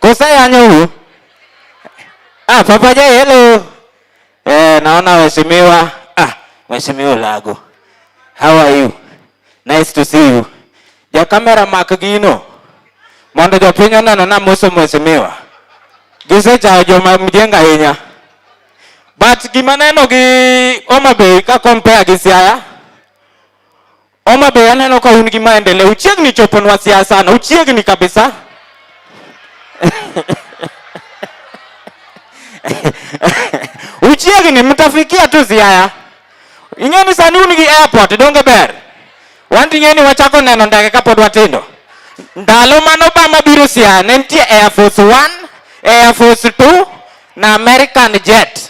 Kusayanyo huyu. Ah, Papa Jay, hello. Eh, naona waheshimiwa. Ah, waheshimiwa Lago. How are you? Nice to see you. Ja kamera mak gino. Mondo jopiny oneno na moso mheshimiwa. Gisechayo joma mjenga ahinya. But gima neno gi Homa Bay ka compare gi Siaya, Homa Bay aneno ka un gi maendeleo, uchiegni choponwa siasa na uchiegni kabisa. uchiegni mtafikia tu Siaya. Ing'e ni sani un gi airport donge ber? Wan ting'e ni wachako neno ndege kapod watindo. Ndalo mane Obama biro Siaya ne nitie Air Force 1, Air Force 2 na American jet.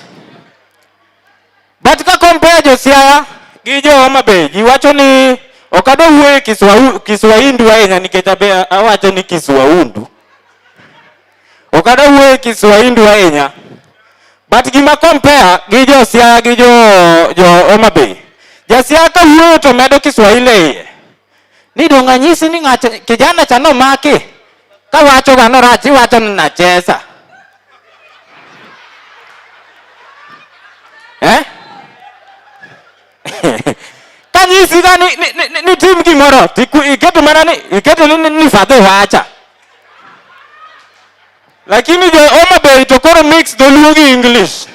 But ka compare jo Siaya gi jo Homa Bay, ji wacho ni ok adwa wuoyo Kiswahili Kiswahindu ahinya nikech abe awacho ni Kiswahundu. Ok adwa wuoyo Kiswahindu ahinya. But gima compare gi jo Siaya gi jo jo Homa Bay. Ja Siaya ka wuoyo to medo Kiswahili e iye. ni donge anyisi ni ng'acha kijana cha nomaki kawacho ga norach iwacho ni nachesa eh? kanyisi ga ni, ni, ni, ni tim gimoro tiku- iketo mana ni iketo ni, ni, ni fadhi wacha lakini jo Homa Bay to koro mix dholuo gi English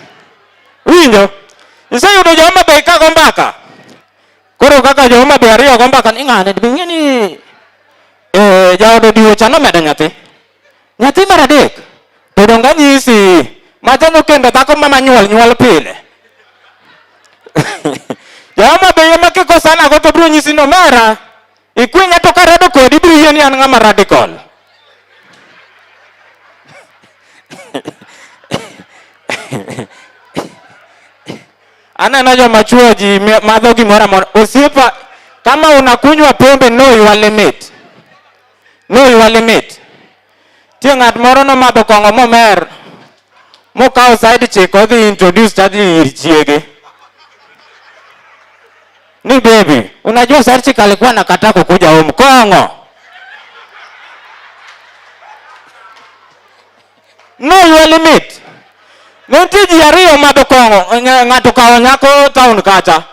winjo iseyudo jo Homa Bay kago mbaka Koro kaka joma be ariyo go mbaka ni ng'ane be ng'e ni eh jaodo diwo cha nomedo nyathi. Nyathi mar adek to donge anyisi ma jano kendo dhako ma manyuol nyuol pile. Joma be yema kiko sana go to bro nyisi no mera. Ikwenya to karado kodi ibiro yie ni an ng'ama radical. Aneno joma chuo ji madho gimoro amora. Osiepa, kama unakunywa pombe know your limit. Know your limit. Tie ng'at moro nomadho kong'o momer mokawo side chick odhi introduce chadni ir chiege ni baby, unajua side chick alikuwa nakataa kukuja home kong'o no your limit nitie ji ariyo madho kong'o ng'a- ng'ato kawo nyako town kacha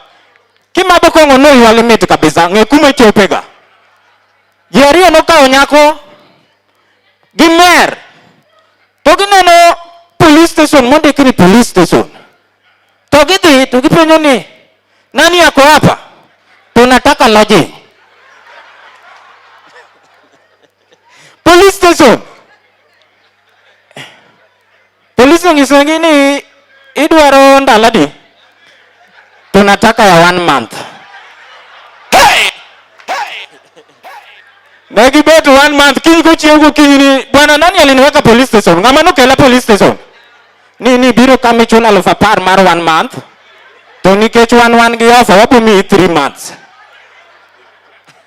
kimadho kong'o no your limit kabisa ng'e kuma ichopega Ji ariyo nokawo nyako gi mer to gineno police station mondik ni police station to gidhi to gipenjo ni nani yako hapa tunataka lodging police station Polis onyisogi ni idwaro ndalo adi? Tunataka ya one month. Hey! Ne gibet one month kiny kochiew gokinyi ni bwana nani aliniweka police station? Ng'ama nokela police station? Ni ni biro kama ichulo aluf apar mar one month. To nikech wan wan gi ofa wabiro miyi three months.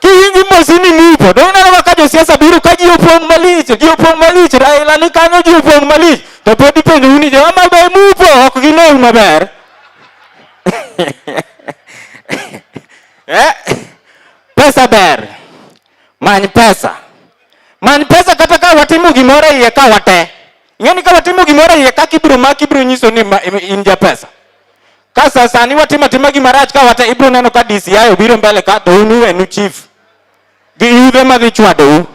Kiwinji mosi ni mupo. Dong neno ka josiasa biro ka ji opong' malich, ji opong' malich, Raila ni kanyo ji opong' malich. To pod ipenjo uni jo ama be mupo ok ginewu maber. Eh? Pesa ber. Many pesa. Many pesa kata ka watimo gimoro iye ka wate. Ng'eni ka watimo gimoro iye kaka ibiro maki ibiro nyiso ni in ja pesa. Ka sasani watimo atima gima rach ka wata ibiro neno ka DCI obiro mbele ka to un uwenu chief gi yudhe madhi chwadou.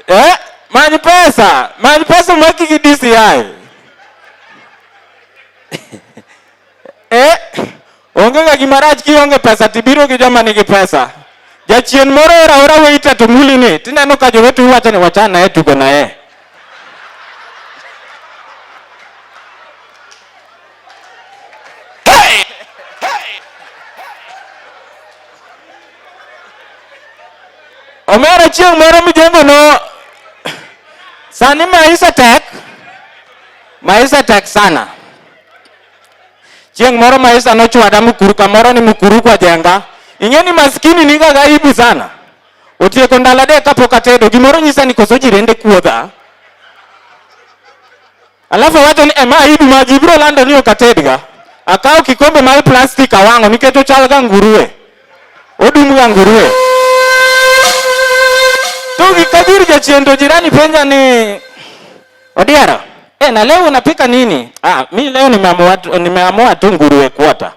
Eh, many pesa, many pesa mwaki gi DCI. Eh, onge ga gima rach kionge pesa tibiro gi joma nigi pesa. Jachien moro ora ora weita to muli ni tineno ka jowete wacho ni wachana e tugo na e. Omera chieng' moro mijengo no sani maisha tek maisha tek sana Chieng' moro maisha nochwada Mukuru kamoro ni Mukuru kwa jenga. Ing'e ni maskini niga gaibu sana. Otieko ndalo adek kapok atedo, gimoro nyisa ni koso jirende kuodha. Alafu wacho ni ema aibu ma ji biro lando ni ok atedga. Akawo kikombe mar plastik awang'o nikech ochal ga nguruwe. Odum ga nguruwe. To gikabir jachien to jirani penja ni Odiara, eh, na leo unapika nini? Ah, mi leo nimeamua nimeamua tu nguruwe kuota.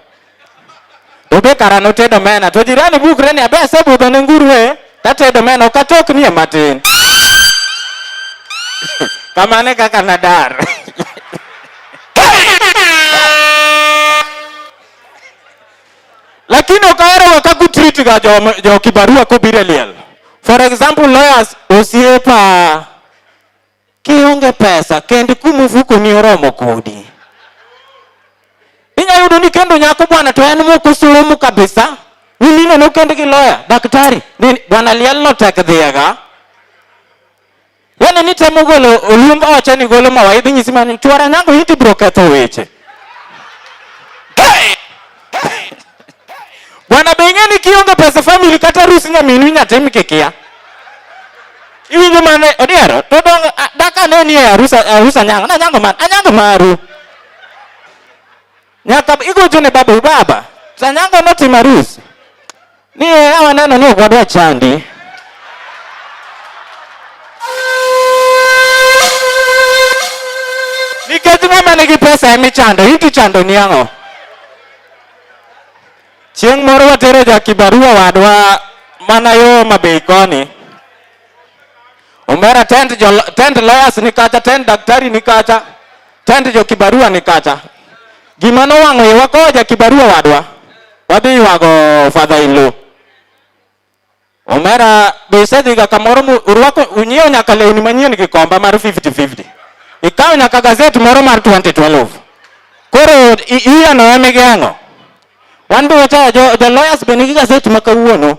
Dobe karano tedo mena to jirani bukre ni abe sabu to ne nguruwe tatedo mena ukatok ni matin. Kamane kaka nadar. Lakini ukawere wakakutreat ga jo, jo kibarua kobire liel. For example, lawyers osiepa Kionge pesa, kend kuma ofukoni oromo kodi. Inyalo yudo ni kendo nyako bwana to en mok osomo kabisa. Nyimine nokend gi loya, daktari, ni bwana liel no tek dhiega. Yaani ni temo golo olumb oche ni golo mawaidha inyisi mana ni chwara nyango iti biro ketho weche. Bwana beng'e ni kionge pesa family kata rusi nyaminu inyatim kikia. Iwinjo mane odiero to dong daka ne ni arusa arusa nyango na nyango man anyango maru. Nyaka igocho ne babu baba. Sanyango notimo arus. Ni hawa neno ni kwa chandi. Nikech mama nigi pesa emi chando, hiki chando ni ang'o? Chieng' moro watero ja kibarua wadwa mana yo mabei koni. Omera tend jo tend lawyers ni kacha, tend daktari ni kacha, tend jo kibarua ni kacha. Gima nowang'o yo wakowo ja kibarua wadwa. Wadhi ywago Father Ilu. Omera be isedhiga kamoro mu- urwako unyiewo nyaka lewni manyien gi komba mar 50-50. Ikawo nyaka gazet moro mar 2012. Koro i- iyano ema igeng'o. Wan be wachayo jo, jo lawyers be nigi gazet ma kawuono.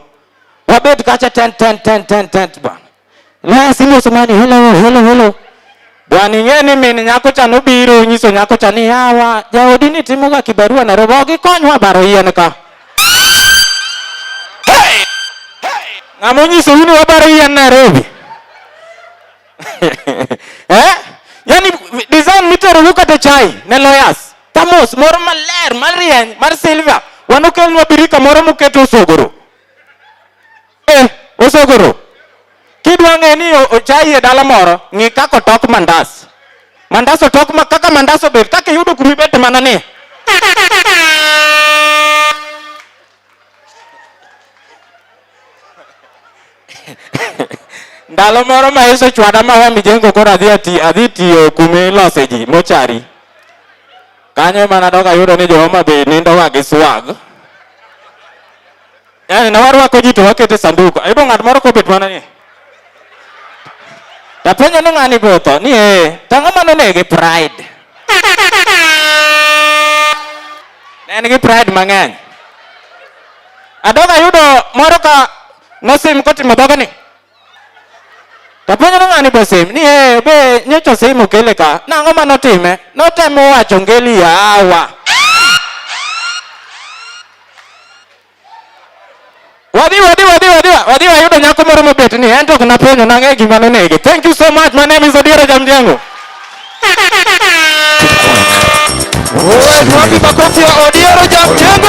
Wabed kacha ten ten ten ten ten bana. Laya simo somani hello hello hello. Bwana ing'e ni min nyako cha nobiro nyiso nyako cha ni yawa jaodi ni timoga kibarua na robo gikonywa baro yien ka. Hey! Ng'ama onyiso uni wabaro yien Nairobi. eh? Yaani design mitero wuka te chai ne lawyers. Tamos moro maler, marieny, mar silver. Wanokelnwa birika moro muketo osogoro. Eh, osogoro. Kidwa ng'e ni ochai e dala moro, ng'i kaka otok mandas. Mandas otok ma kaka mandas obet, kaka iyudo kuma ibet mana ni. ndalo moro ma Yesu chwada ma wa mijengo koro adhi ati adhi tiyo kuma ilose ji mochari kanyo ema nadok ayudo ni jo-Homa Bay nindoga gi swag yani ne warwako ji to wakete sanduku ayudo ng'at moro kobet mana ni Tapenjo ni ng'ani be otho ni ee, to ang'o ma nonege pride? Ne en gi pride mang'eny. Adog ayudo moro ka nosim kotimo dhoge ni. Tapenjo ni ng'ani be osim ni ee, be nyocha osim okele ka. Nang'o ma notime? Notemo wacho ngeli yawa. Wadhi wadhi wadhi wadhi wadhi wayudo nyako moro mobet ni en to ok napenjo nang'e gima nonege. Thank you so much. My name is Odiero Jamjengo. Wapi makofi ya Odiero Jamjengo?